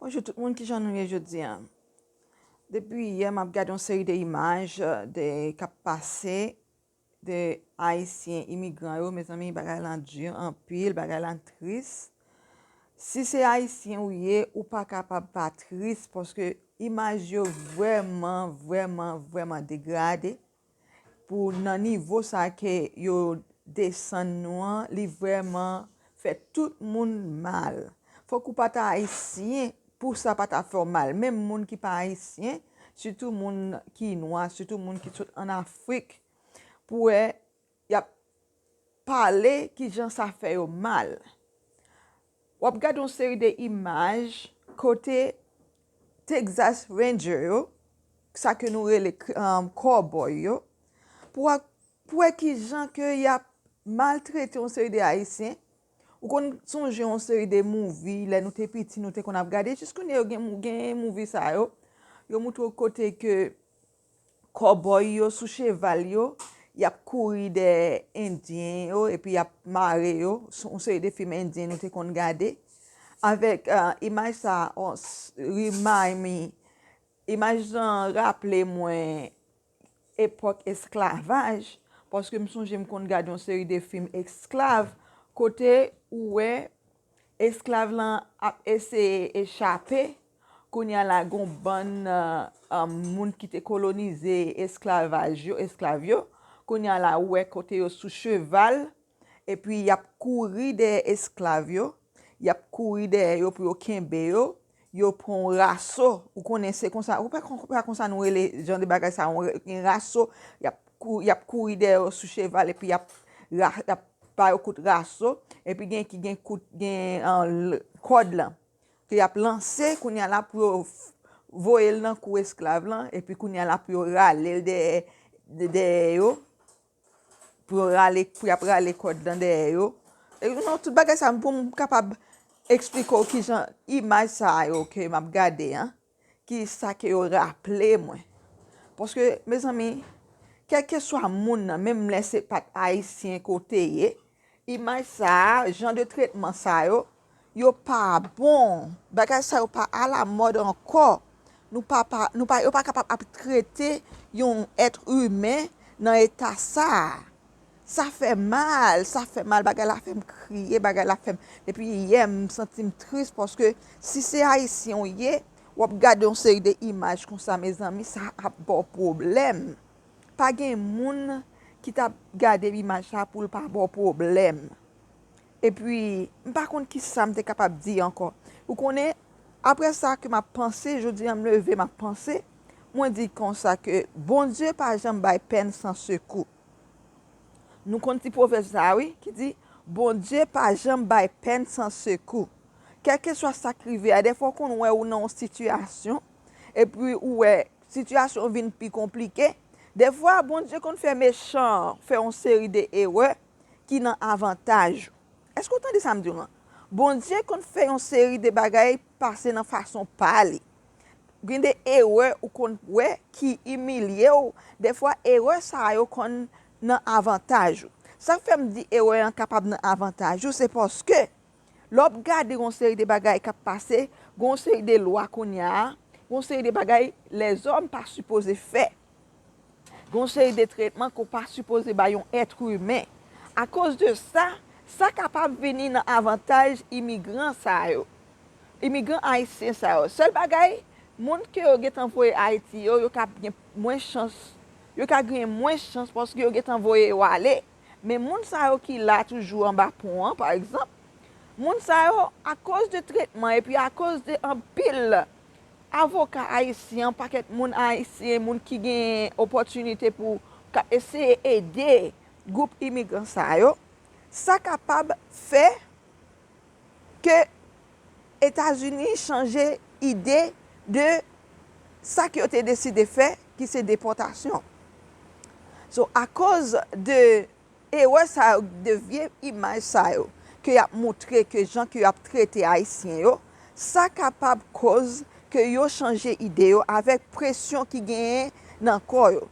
Bonjou tout moun kijan nou ye jodi an depi yè map gade yon seri de imaj de kap pase de ayisyen imigran yo mezanmi bagay lan di anpil bagay lan tris si se ayisyen ou ye ou pa kapab pa tris paske imaj yo vreman vreman vreman degrade pou nan nivo sa ke yo desann nou an li vreman fè tout moun mal fok ou pa ta ayisyen pou sa pa ta fè w mal menm moun ki pa ayisyen sitou moun ki nwa sitou moun ki sot an afrik pou wè y ap pale kijan sa fè yo mal. W ap gade yon seri de imaj kote Texas Ranger yo, sa ke nou rele kòbòy yo, pou w wè kijan ke y ap maltrete yon seri de Ayisyen. Ou konn sonje yon seri de mouvi lè nou te piti nou te konn ap gade, jiskounye yo gen mouvi sa yo, yo moutre w kote ke Kòbòy yo sou cheval yo, y ap kouri dèyè Endyen yo epi y ap mare yo, yon seri de fim Endyen nou te konn gade. Avèk imaj sa, remind me, imaj lan raple mwen epòk esklavaj, paske m sonje m konn gade yon seri de fim esklav, kote ou wè, Esklav lan ap eseye echape, kounye a la gen yon bann moun ki te kolonize esklavaj yo, esklav yo, kounye a la ou wè kote yo sou cheval, epi y ap kouri dèyè esklav yo, y ap kouri dèyè yo pou yo kenbe yo, Yo pran yon raso, ou konnen se konsa, ou pa konsa nou rele jan de bagay sa, yon raso, y ap kouri dèyè yo sou cheval epi y ap ba yo kout raso, epi gen ki gen kout, gen kòd lan, ke y ap lanse kounya la pou yo voye l nan kou esklav lan, epi kounya la pou yo rale l dèyè yo. pou yo rale pou yap rale kòd lan dèyè yo non tout bagay sa pou m kapab eksplike w kijan imaj sa yo ke map gade an ki sa ke yo raple mwen paske mezanmi kèlkeswa moun nan menm lè se pat ayisyen ke w te ye Imaj sa a, jan de tretman sa yo, yo pa bon. Bagay sa yo pa alamòd ankò. Nou pa pa, nou pa, yo pa kapab ap trete yon èt imen nan eta sa a. Sa fè mal, sa fè mal, bagay la fè m kriye, bagay la fè m, depi yè m santi m tris paske si se Ayisyen ou ye, w ap gade yon seri de imaj konsa mezanmi sa ap ba w pwoblèm. Pa gen moun ki t ap gade imaj la pou l pa ba w pwoblèm. Epi, m pa konn ki sa m te kapab di ankò. Ou konnen, apre sa ke m ap panse, jodi a m leve m ap panse, mwen di kon sa ke Bondye pa janm bay pèn san sekou. Nou konn ti pwovèb sa a wi, ki di, Bondye pa janm bay pèn san sekou. Kèlkeswa sa k rive a, dèfwa w konn wè ou nan yon sitiyasyon, epi ou wè sitiyasyon vin pi konplike. Defwa, Bondye konn fè mechan an fè yon seri de erè ki nan avantaj ou. Èske ou tande sa m di w lan? Bondye konn fè yon seri de bagay pase nan fason pa li. Gen de erè ou konn wè ki imilye w, defwa erè sa yo konn nan avantaj ou. Sa k fè m di erè an kapab nan avantaj ou, se paske Lè w ap gade gen yon seri de bagay k ap pase, gen yon seri de lwa kounya a, gen yon seri de bagay lèzòm pa sipoze fè. Gen yon seri de tretman ke w pa sipoze bay yon ètre imen. Akoz de sa, sa kapab vini nan avantaj imigran sa yo. Imigran ayisyen sa yo. Sèl bagay, moun ke yo gentan voye Ayiti yo, yo ka gen mwens chans, yo ka genyen mwens chans paske yo gentan voye yo ale. Men moun sa yo ki la toujou anba pon an pa egzanp, moun sa yo akoz de tretman epi akoz de anpil avoka ayisyen, yon pakèt moun ayisyen, moun ki gen opòtinite pou k ap eseye ede gwoup imigran sa yo, sa kapab fè ke Etazini chanje ide de sa ke yo te deside fè ki se depòtasyon. So akoz de erè sa yo, de vye imaj sa yo ke y ap moutre ke jan ke yo ap trete Ayisyen yo, sa kapab koz ke yo chanje ide yo avèk presyon ki genyen nan kò yo.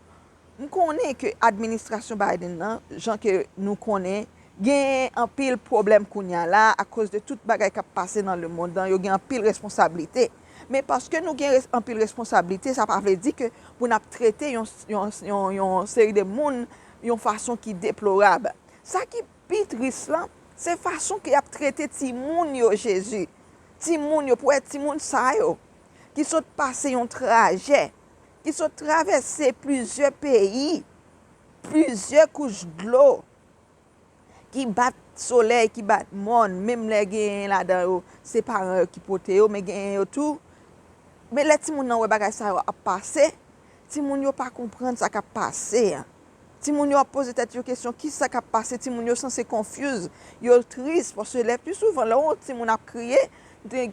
M konnen ke administrasyon Biden nan, jan ke nou konnen, genyen anpil pwoblèm kounya la a akoz de tout bagay k ap pase nan lemond lan, yo gen anpil responsablite. Men paske nou gen anpil responsablite, sa pa vle di ke pou n ap trete yon seri de moun yon fason ki deplorab. Sa ki pi tris lan, se fason ke y ap trete timoun yo Jezi. Timoun yo, pou wè timoun sa yo ki sot pase yon trajè. ki sot travèse plizyè peyi, plizyè kouch dlo ki bat solèy, ki bat mòn, menm lè genyen ladan yo se paran yo ki pote yo, men genyen yo tou, men lè timoun nan wè bagay sa yo ap pase, timoun yo pa konprann sa k ap pase an. Timoun yo ap poze tèt yo kesyon kisa kap pase timoun yo sanse confuse yo tris paske lè pi souvan lè ou wè yon timoun ap kriye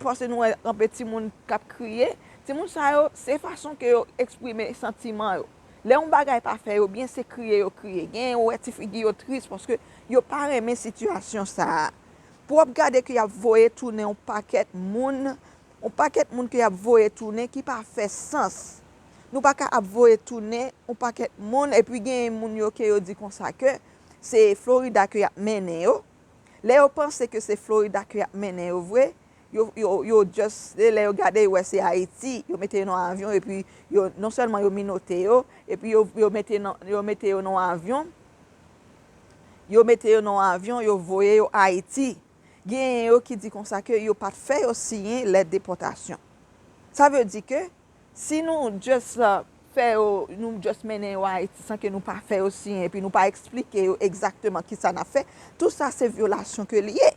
paske nou wè anpe timoun kap kriye timoun sa yo se fason ke yo eksprime santiman yo lè yon bagay pa fè yo byen se kriye yo kriye genyen ou wè ti figi yo tris paske yo pa renmen sitiyasyon sa pou wap gade ke yap voye tounen yon pakèt moun yon pakèt moun ke yap voye tounen ki pa fè sans. Nou pa ka ap voye tounen yon pakèt moun epi genyen moun yo ke yo di konsa ke se Florida ke yap mennen yo. Lè yo panse ke se Florida ke yap mennen yo vre, yo yo just se lè yo gade yo wè se Ayiti, yo mete yo nan avyon epi yo non sèlman yo minote yo epi yo yo mete nan yo mete yo nan yon avyon yo mete yo nan yon avyon yo voye yo Ayiti. Genyen yo ki di konsa ke yo pat fè yo siyen lèt depòtasyon. Sa vle di ke. Si nou just fè yo, nou just mennen yo Ayiti san ke nou pa fè yo siyen epi nou pa eksplike yo egzakteman kisa n ap fè, tout sa se vyolasyon ke li ye.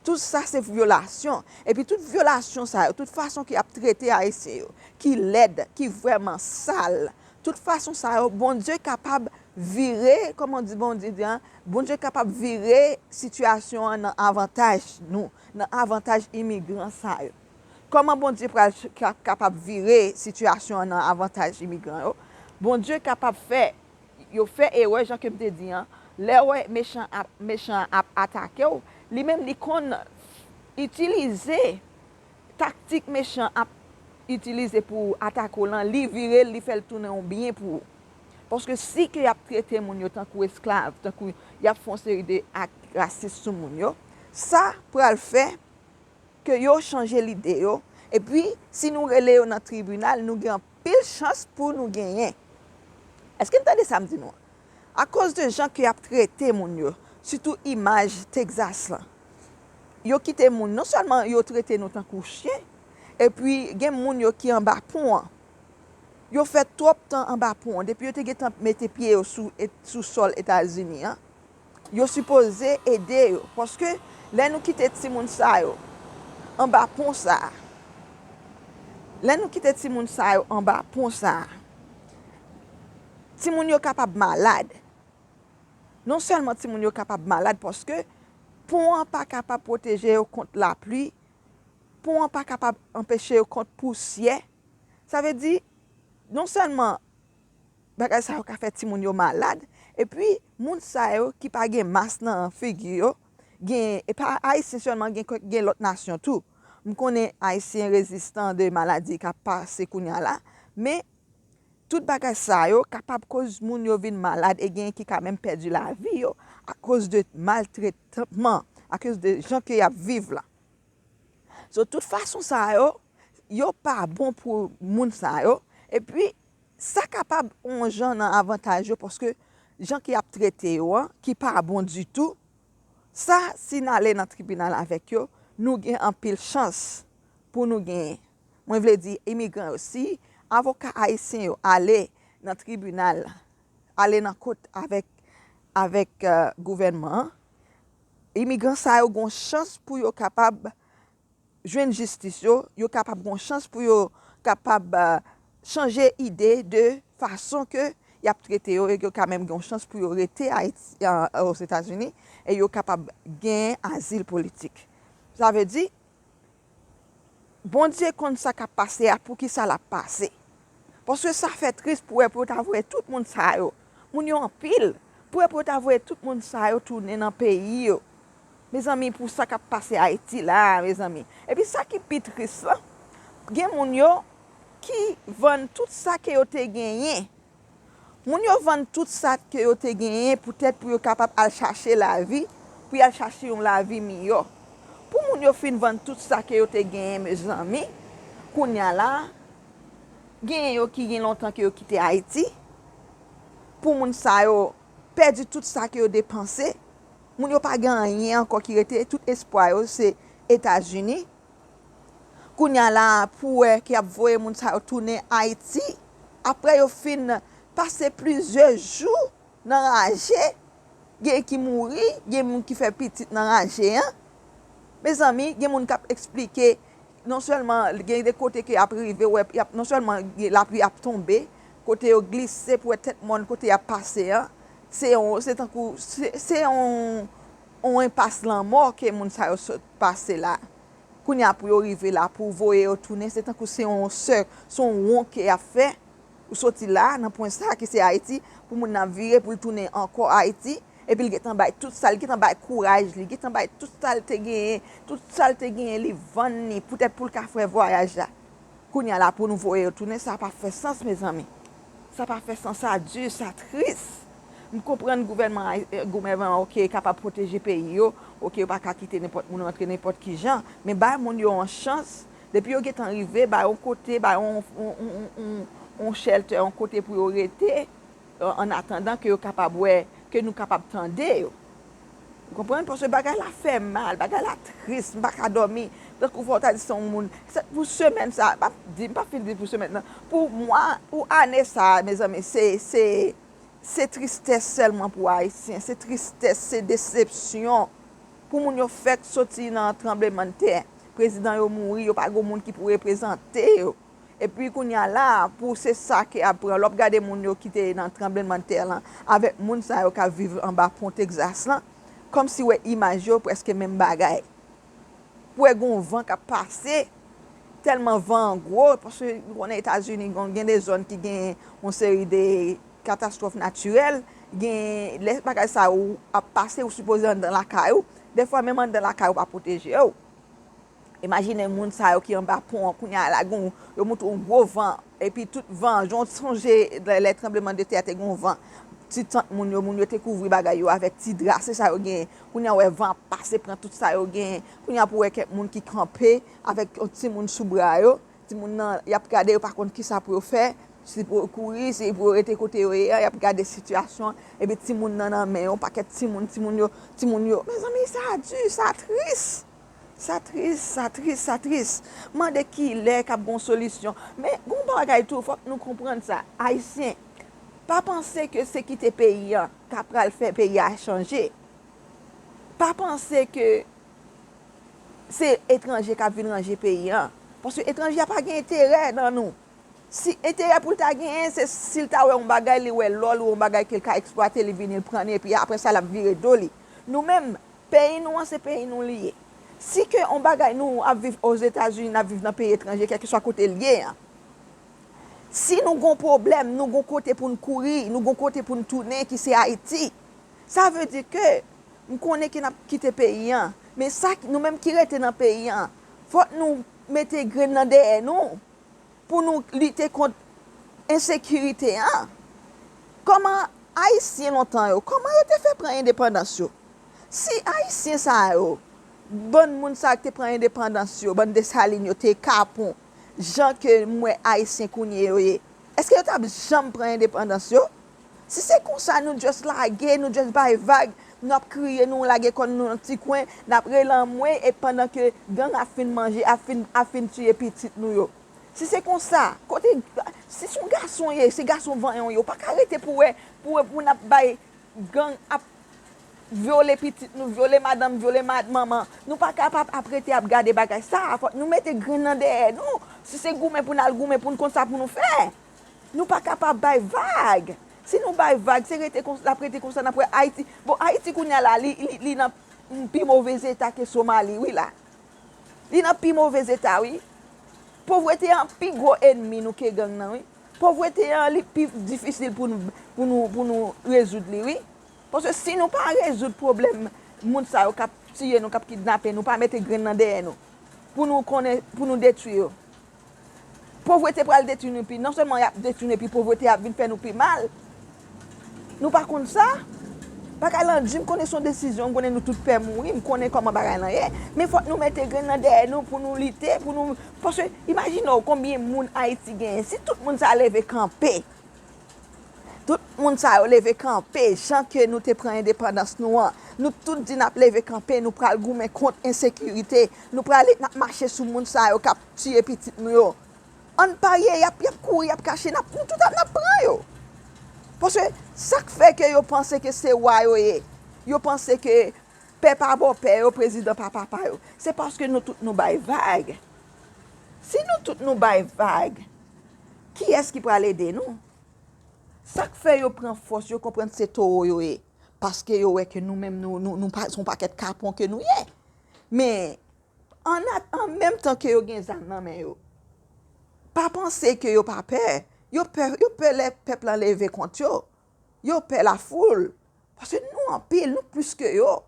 Tout sa se vyolasyon. Epi tout vyolasyon sa yo, tout fason ke y ap trete Ayisyen yo, ki lèd, ki vrèman sal, tout fason sa yo, Bondye kapab vire, kòman w di Bondye di a, Bondye kapab vire sitiyasyon an nan avantaj nou, nan avantaj imigran sa yo. Kòman Bondye pral kapab vire sitiyasyon an nan avantaj imigran yo? Bondye kapab fè yo fè erè jan ke m te di an, lè wè mechan an ap atake w, li menm li konn itilize taktik mechan an ap itilize pou atake w lan, li vire l, li fè l tounen yon byen pou ou. Paske si ke y ap trete moun yo tankou esklav, tankou y ap fè yon seri de ak rasis sou moun yo, sa pral fè ke yo chanje lide yo, epi si nou rele yo nan tribinal nou gen anpil chans pou nou genyen. Eske n tande sa m di nou an? Akoz de jan ke y ap trete moun yo, sitou imaj Texas lan, yo kite moun, non sèlman yo trete nou tankou chyen, epi gen moun yo ki anba pon an, yo fè twòp tan anba pon an, depi yo te gen tan mete pye yo sou sòl Etazini an, Yo sipoze ede yo. Paske lè nou kite timoun sa yo anba pon sa a, lè nou kite timoun sa yo anba pon sa a, timoun yo kapab malad. Non sèlman timoun yo kapab malad paske pon an pa kapab pwoteje yo kont lapli, pon an pa kapab anpeche yo kont pousyè. Sa vle di, non sèlman Bagay sa yo ka fè timoun yo malad epi moun sa yo ki pa gen mas nan figi yo gen e pa ayisyen sèlman gen kèk gen lòt nasyon tou m konnen ayisyen rezistan de maladi k ap pase kounya la men tout bagay sa yo kapab koz moun yo vin malad e gen ki ka menm pèdi lavi yo akoz de maltretman akoz de jan ke y ap viv la so tout fason sa yo yo pa bon pou moun sa yo epi Sa kapab on jan nan avantaj yo paske jan ke yap trete yo an ki pa bon ditou, sa si n ale nan tribinal avèk yo nou gen anpil chans pou nou genyen. Mwen vle di imigran yo si avoka ayisyen yo ale nan tribinal, ale nan kot avèk avèk gouvènman an, imigran sa yo gon chans pou yo kapab. jwenn jistis yo, yo kapab gon chans pou yo kapab chanje ide de fason ke yap trete yo e yo ka menm gen yon chans pou yo rete Ayiti, Ozetazini e yo kapab gen azil politik. Sa vle di, Bondye konn sa kap pase a, poukisa lap pase. Paske sa fè tris pou wè pou yo ta voye tout moun sa yo. Moun yo anpil. Pou wè pou yo ta voye tout moun sa yo tounen nan peyi yo. Mezanmi pou sa k ap pase Ayiti la a mezanmi. Epi sa ki pi tris lan, gen moun yo ki vann tout sa ke yo te genyen. Moun yo vann tout sa ke yo te genyen poutèt pou yo kapab al chache lavi, pou y al chache yon lavi miyò. Pou moun yo fin vann tout sa ke yo te genyen mezanmi, kounye a la a, genyen yo ki gen lontan ke yo kite Ayiti, pou moun sa yo pèdi tout sa ke yo depanse, moun yo pa gen anyen ankò ki rete, tout espwa yo se Etazini. Kounya la pou wè ki ap voye moun sa yo tounen Ayiti aprè yo fin pase plizyè jou nan raje gen ki mouri gen moun ki fè pitit nan raje an mezanmi gen moun kap esplike non sèlman gen de kote ke ap rive wè yap non sèlman lapli ap tonbe kote yo glise pou wè tèt mòn kote yap pase an se yon se tankou se yon yon enpas lanmò ke moun sa yo sot. pase la kounya pou yo rive la pou voye yo tounen se tankou se yon sè se yon won ke yap fè ou soti la nan pwen sa ki se ayiti pou moun nan vire poul tounen ankò ayiti epil gentan bay tout sal gentan bay kouraj li gentan bay tout sal te genyen tout sal te genyen li vann li poutèt poul ka fè vwayaj la kounya la pou nou voye yo tounen sa pa fè sans mezanmi. Sa pa fè sans sa du sa tris. M konprann gouvènman goumèvan ok kapab pwoteje peyi yo ok yo pa ka kite nenpòt moun rantre nenpòt kijan men bay moun yo yon chans depi yo gentan rive bay yon kote bay yon yon shelter yon kote pou yo rete an atandan ke yo kapab wè ke nou kapab tande yo. Ou konprann? Paske bagay la fè m mal, bagay la tris, m pa ka dòmi. Tankou fò w ta di se yon moun, se pou semèn sa a, m pa di, m pa fin di pou semèn nan, pou mwa, pou ane sa a mezanmi se, se, se tristès sèlman pou Ayisyen, se tristès, se desepsyon pou moun yo fèk soti nan tranblemann tè, prezidan yo mouri, yo pa gen yon moun ki pou reprezante yo. Epi kounya la a pou se sa ke ap pran lè wap gade moun yo ki te nan tranbleman tè lan avèk moun sa yo kap viv anba pon Texas lan kòm si wè imaj yo prèske menm bagay pou wè gon van kap pase tèlman van an gwo paske nou konnen etazini gon gen de zòn ki gen yon seri de katastwòf natirèl gen lè bagay sa yo ap pase ou sipoze anndan lakay ou dèfwa menm anndan lakay ou pa pwotejew Imajine moun sa yo ki anba pon an kounye a la gen yon, yo moute yon gwo van epi tout van an, jan w sonje lè tranbleman de tè a te gen yon van, ti tant moun yo, moun yo te kouvri bagay yo avèk ti dra, se sa yo genyen. Kounye a ou wè van ap pase pran tout sa yo genyen. Kounye a pou wè kèk moun ki kanpe avèk yon timoun sou bra yo, timoun nan y ap gade yo pa konn ki sa pou yo fè, si pou yo kouri, si pou yo rete kote yo ye a, y ap gade sitiyasyon an epi timoun nan nan men yon pakèt timoun, timoun yo, timoun yo. Mezanmi sa di, sa tris! Sa tris, sa tris, sa tris. M mande kilè kap gen yon solisyon. Men, gen yon bagay tou, fòk nou konprann sa. Ayisyen, pa panse ke se kite peyi an ta pral fè peyi a chanje. Pa panse ke se etranje kap vin ranje peyi an. Paske etranje a pa gen enterè nan nou. Si enterè pou l ta genyen, se si l ta wè yon bagay, li wè lò l ou yon bagay ke l ka eksplwate, li vini l pran li epi apre sa lap vire do li. Nou menm, Peyi nou an se peyi nou li ye. Si ke yon bagay nou ap viv Ozetazini, n ap viv nan peyi etranje, kèlkeswa kote l ye an, si nou gen yon pwoblèm, nou gen yon kote pou n kouri, nou gen yon kote pou n tounen ki se Ayiti. Sa vle di ke m konnen ke n ap kite peyi an, men sa nou menm ki rete nan peyi an, fòk nou mete grenn nan dèyè nou. Pou nou lite kont ensekirite a, kòman Ayisyen lontan yo, kòman yo te fè pran endepandans yo? Si Ayisyen sa yo, bann moun sa yo ki te pran endepandans yo, bann Desalin yo te kapon jan ke m wè Ayisyen kounye yo ye, èske yo t ap janm pran endepandans yo? Si se konsa nou just lage, nou just bay vag, nou ap kriye, nou lage kò n nou nan ti kwen, n ap rele anmwey e pandan ke gang ap fin manje, ap fin, ap fin tiye pitit nou yo. Si se konsa, kote, si son gason w ye, se gason vanyan w ye, w pa ka rete pou wè, pou wè, pou n ap bay gang ap vyole pitit nou, vyole madanm, vyole ma, manman. Nou pa ka pa ap rete ap gade bagay sa a. Fòk nou mete grenn nan dèyè nou. Si se goumen pou n al goumen pou n konn sa pou nou fè. Nou pa ka pa bay vag. Si nou bay vag, se rete konsa, l ap rete konsa, n ap wè Ayiti. Bon, Ayiti kounye a la, li nan pi move zeta ke Somali wi la. Li nan pi move zeta wi. Povrete an pi gwo enmi nou ke gang nan wi. Povrete an li pi difisil pou nou, pou nou, pou nou rezoud li wi. Paske si nou pa rezoud pwoblèm moun sa yo k ap tiye nou, k ap kidnape nou, pa mete grenn nan dèyè nou pou nou konnen, pou nou detwi yo. Povrete pral detwi nou pi, non sèlman yap detwi nou epi povrete ap vin fè nou pi mal. Nou pa konn sa? Bagay lan di, m konnen son desizyon, m konnen nou tout pè mouri, m konnen kòman bagay lan ye, men fòk nou mete grenn nan dèyè nou pou nou lite, pou nou, paske imajine w konbyen moun Ayiti genyen, si tout moun sa leve kanpe. Tout moun sa yo leve kanpe jan ke nou te pran endepandans nou an. Nou tout di nap leve kanpe, nou pral goumen kont ensekirite, nou prale nap mache sou moun sa yo kap tiye pitit nou yo. Ann parye yap yap kouri yap kache nap nou tout ap nap pran yo. Paske sak fè ke yo panse ke se wa yo ye, yo panse ke pè pa bò pè yo, prezidan pa papa yo. Se paske nou tout nou bay vag. Si nou tout nou bay vag. Kiyès ki pral ede nou? Sa k fè yo pran fòs, yo konprann se towo yo ye? Paske yo wè ke nou menm nou se yon pakèt kapon ke nou ye. Men, an menm tan ke yo gen zam nan men yo, pa panse ke yo pa pè. Yo pè, yo pè lè pèp la leve kont yo. Yo pè lafoul. Paske nou anpil, nou plis ke yo.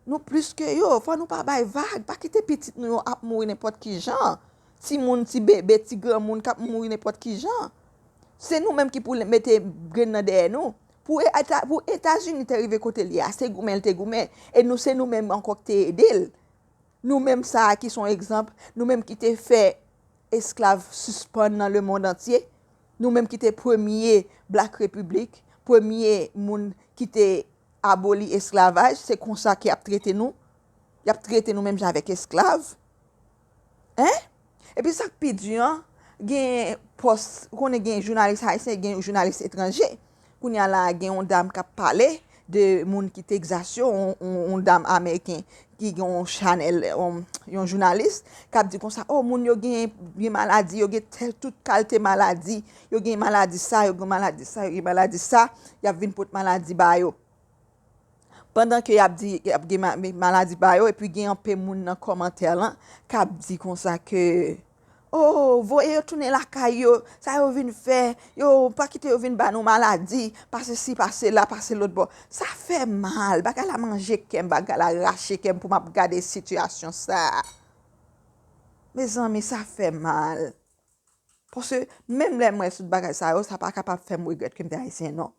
Nou plis ke yo, fò nou pa bay vag, pa kite pitit nou yo ap mouri nenpòt ki jan, ti moun, ti bebe, ti granmoun kap mouri nenpòt ki jan. Se nou menm ki pou mete grenn nan dèyè nou. Pou Etazini te rive kote li a, se goumen li te goumen, e nou se nou menm ankò ki te ede l. Nou menm sa a ki son egzanp, nou menm ki te fè esklav sispann nan lemond antye, nou menm ki te premye Black Republic, premye moun ki te. Aboli esklavaj se konsa ke yap trete nou yap trete nou menm jan avèk esklav hein epi sak pi di an genyen pòs ou konnen genyen jounalis ayisyen genyen jounalis etranje kounya la a genyen yon dam kap pale de moun ki Texas yo yon dam ameriken ki gen yon chanèl yon jounalis kap di konsa oh moun yo genyen maladi yo genyen tout kalte maladi Yo gen maladi sa, yo gen maladi sa, yo gen maladi sa, y ap vin pot maladi ba yo. Pandan ke y ap di, y ap gen maladi ba yo, epi gen anpe moun nan kòmantè lan, k ap di konsa ke, Oh, voye yo tounen lakay yo, sa yo vin fè, yo, pa kite yo vin ba nou maladi, pa se si, pa se la, pa se lòt bò. Sa fè mal, bagay la manje kè m, bagay la rache kè m pou m ap gade sitiyasyon sa a. Mezanmi, sa fè mal. Paske menm lè m wè tout bagay sa yo, sa pa kapab fè m regrèt ke m te Ayisyen non.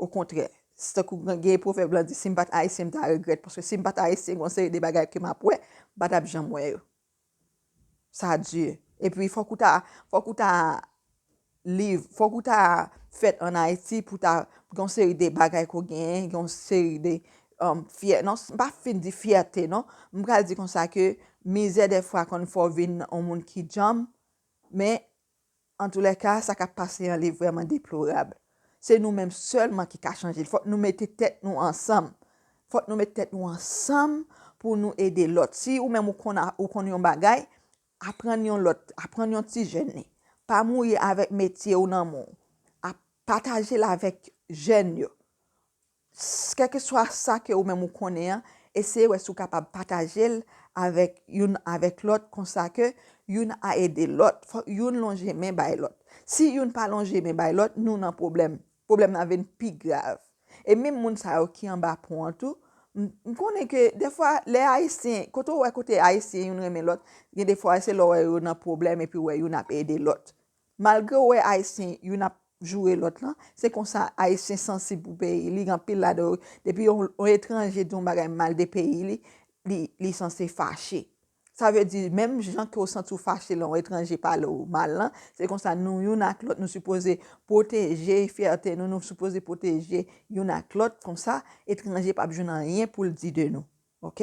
Okontrè, se tankou gen pwovèb lan di si m pa t Ayisyen m ta regrèt, paske si m pa t Ayisyen gen yon seri de bagay ke m ap wè, m pa t ap janm wè yo. Sa di. Epi fòk ou ta, fòk ou ta liv, fòk ou ta fèt an Ayiti pou ta gen yon seri de bagay ke w genyen, gen yon seri de fyè non, m pa fin di fyète non, m pral di konsa ke mizè dèfwa konn fè w vin on moun ki djanm, men antoulèka sa k ap pase an li vrèman deplorab. Se nou menm sèlman ki ka chanje l, fòk nou mete tèt nou ansanm, fòk nou mete tèt nou ansanm pou nou ede lòt. Si ou menm ou konn a, ou konn yon bagay, aprann yon lòt, aprann yon ti jèn li, pa mouye avèk metye ou nan mou, pataje l avèk jèn yo. Kèlkeswa sa ke ou menm ou konnen an, eseye wè si ou kapab pataje l avèk youn avèk lòt konsa ke youn a ede lòt. Fòk youn lonje men bay lòt. Si youn pa lonje men bay lòt, nou nan pwoblèm. Pwoblèm nan vin pi grav. E menm moun sa yo ki anba pon an tou, m konnen ke defwa lè Ayisyen, kote ou wè kote Ayisyen youn renmen lòt, gen defwa se lè ou wè yo nan pwoblèm epi ou wè youn ap ede lòt. Malgre w wè Ayisyen youn ap joure lòt lan, se konsa Ayisyen sansib pou peyi li, gen anpil ladan yo, depi yon etranje di yon bagay mal de peyi li, li sanse fache. Sa vle di, menm jan ke w santi w fache lè yon etranje pale w mal lan, se konsa nou youn ak lòt, nou sipoze pwoteje fyète nou, nou sipoze pwoteje youn ak lòt, konsa etranje p ap jwenn anyen pou l di de nou. Ok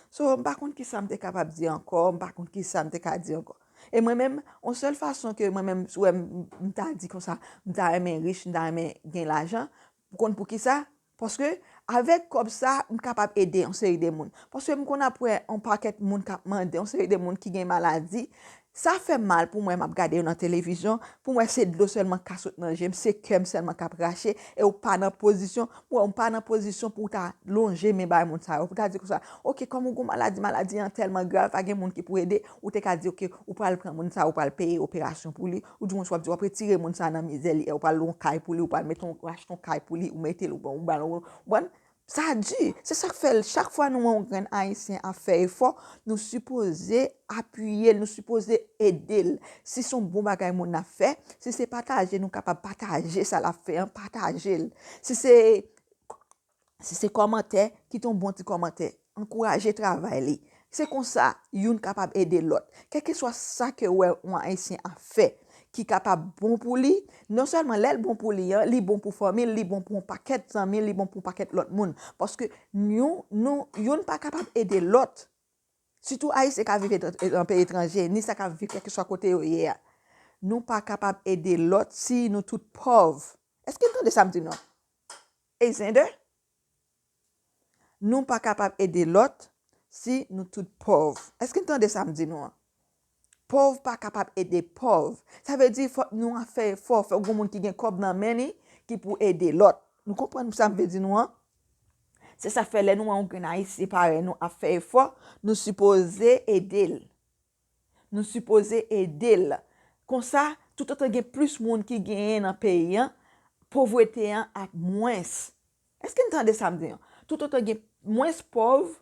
So m pa konn kisa m te kapab di ankò, m pa konn kisa m te ka di ankò. E mwen menm, yon sèl fason ke mwen menm sou wè m m ta di konsa, m ta renmen rich, m ta renmen gen lajan, ou konn poukisa? Paske avèk kòb sa a, m kapab ede yon seri de moun. Paske m konn ap wè yon pakèt moun k ap mande, yon seri de moun ki gen maladi, Sa fèm mal poum wè map gade yo nan televizyon poum wè se dlo sèlman ka sot nan jem se kèm sèlman kap rache e ou pa nan pozisyon m wè ou pa nan pozisyon pouw ta lonje men bay moun sa yo pou ta di konsa ok kòm ou gon maladi maladi an tèlman grav pa gen moun ki pou ede ou te ka di ok ou pral pran moun sa ou pral peye operasyon pou li ou di moun sa wap di wap retire moun sa nan mizè li ew pral lwe yon kay pou li ou pral mete yon ou achte yon kay pou li ou metel ou banl yon ou bann Sa di! Se sa k fè chak fwa nou wè yon grenn Ayisyen ap fè efò, nou sipoze apiye l, nou sipoze ede l. Si s on bon bagay moun nan ap fè, si se pataje nou kapab pataje sa l ap fè an, pataje l. Si se si se kòmantè, kite yon bon ti kòmantè. Ankouraje travay li. Se konsa, youn kapab ede lòt. Kèlkeswa sa ke wè yon Ayisyen ap fè ki kapab bon pou li, non sèlman lè l bon pou li an, li bon pou fanmi l, li bon pou yon pakèt zanmi l, li bon pou yon pakèt lòt moun. Paske yon, nou, youn pa kapab ede lòt, sitou Ayisyen k ap viv nan peyi etranje, ni sa k ap viv kèlkeswa kote yo ye a, nou pa kapab ede lòt si nou tout pòv. Èske n tande sa m di nou an? Ey Xander? Nou pa kapab ede lòt si nou tout pòv. Èske n tande sa m di nou an? Pòv pa kapab ede pòv. Sa vle di fòk nou ap fè efò, fòk gen moun ki gen kòb nan men li ki pou ede lòt. Nou konprann sa m vle di nou an? Se sa k fè lè nou wè yon grenn Ayisyen parèy nou ap fè efò, nou sipoze ede l. Nou sipoze ede l. Konsa, toutotan gen plis moun ki genyen nan peyi an, povrete an ap mwens. Èske n tande sa m di an? Toutotan gen mwens pòv,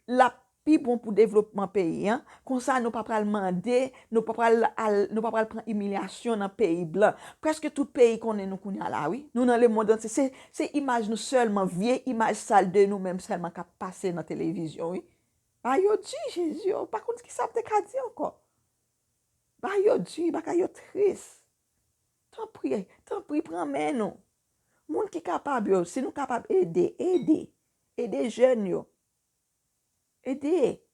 l ap pi bon pou devlopman peyi an. Konsa, nou pa pral mande, nou pa pral al, nou pa pral pran imilyasyon nan peyi blan. Prèske tout peyi konnen nou kounye a la wi. Nou nan lemonn antye. Se, se imaj nou sèlman, vye imaj sal de nou menm sèlman k ap pase nan televizyon wi. Bagay yo di jezi oh pa konn kisa m te ka di ankò bagay yo di bagay yo tris tanpri tanpri pran men nou moun ki kapab yo si nou kapab ede ede ede jèn yo ede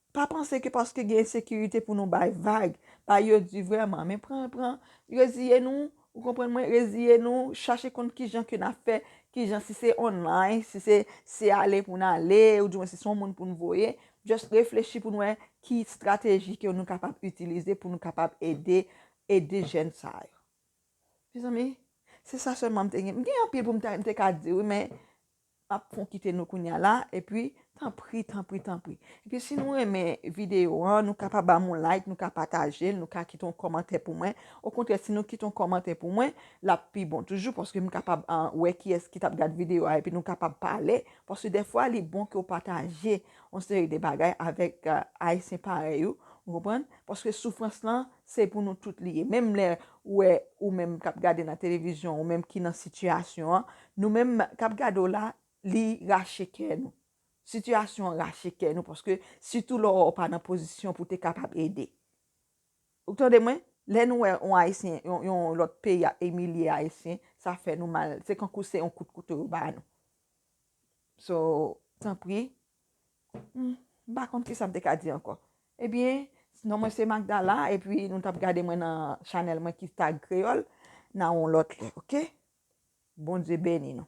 pa panse ke paske gen ensekirite pou nou bay vag bagay yo di vrèman men pran pran reziye nou Ou konprann mwen reziye nou chache konn kijan ke na fè kijan si se online si se se ale pou n ale ou di mwen si se yon moun pou n voye just reflechi pou n wè ki strateji ke nou kapab itilize pou nou kapab ede ede jèn sa yo mezanmi se sa sèlman m te gen m gen anpil pou m ta m te ka di wi men Pap fon kite nou kounya la epi tanpri tanpri tanpri epi si nou renmen video an nou ka pa banm yon like nou ka patajel nou ka kite yon kòmantè pou mwen okontrè si nou kite yon kòmantè pou mwen lap pi bon toujou paske m kapab wè kiyès ki tap gad video a epi nou kapab pale paske dèfwa li bon ke w pataje yon seri de bagay avèk ayisyen parèy ou ou konprann paske soufrans lan se pou nou tout li ye menm lè ou wè ou menm kap gade nan televizyon ou menm ki nan sitiyasyon an Nou menm kap gade w la li rache kè nou. Sitiyasyon an rache kè nou paske sitou lè w pa nan pozisyon pou te kapab ede. Ou tande mwen? Lè nou wè yon ayisyen, yon lòt peyi ap imilye ayisyen, sa fè nou mal. Se kankou se yon kout kouto yo ba nou. So, tanpri, M pa konn kisa m te ka di ankò. Ebyen, non mwen se Magdala epi nou tap gade mwen nan chanèl mwen ki Tag Kreyòl nan yon lòt lè, oke. Bondye beni nou.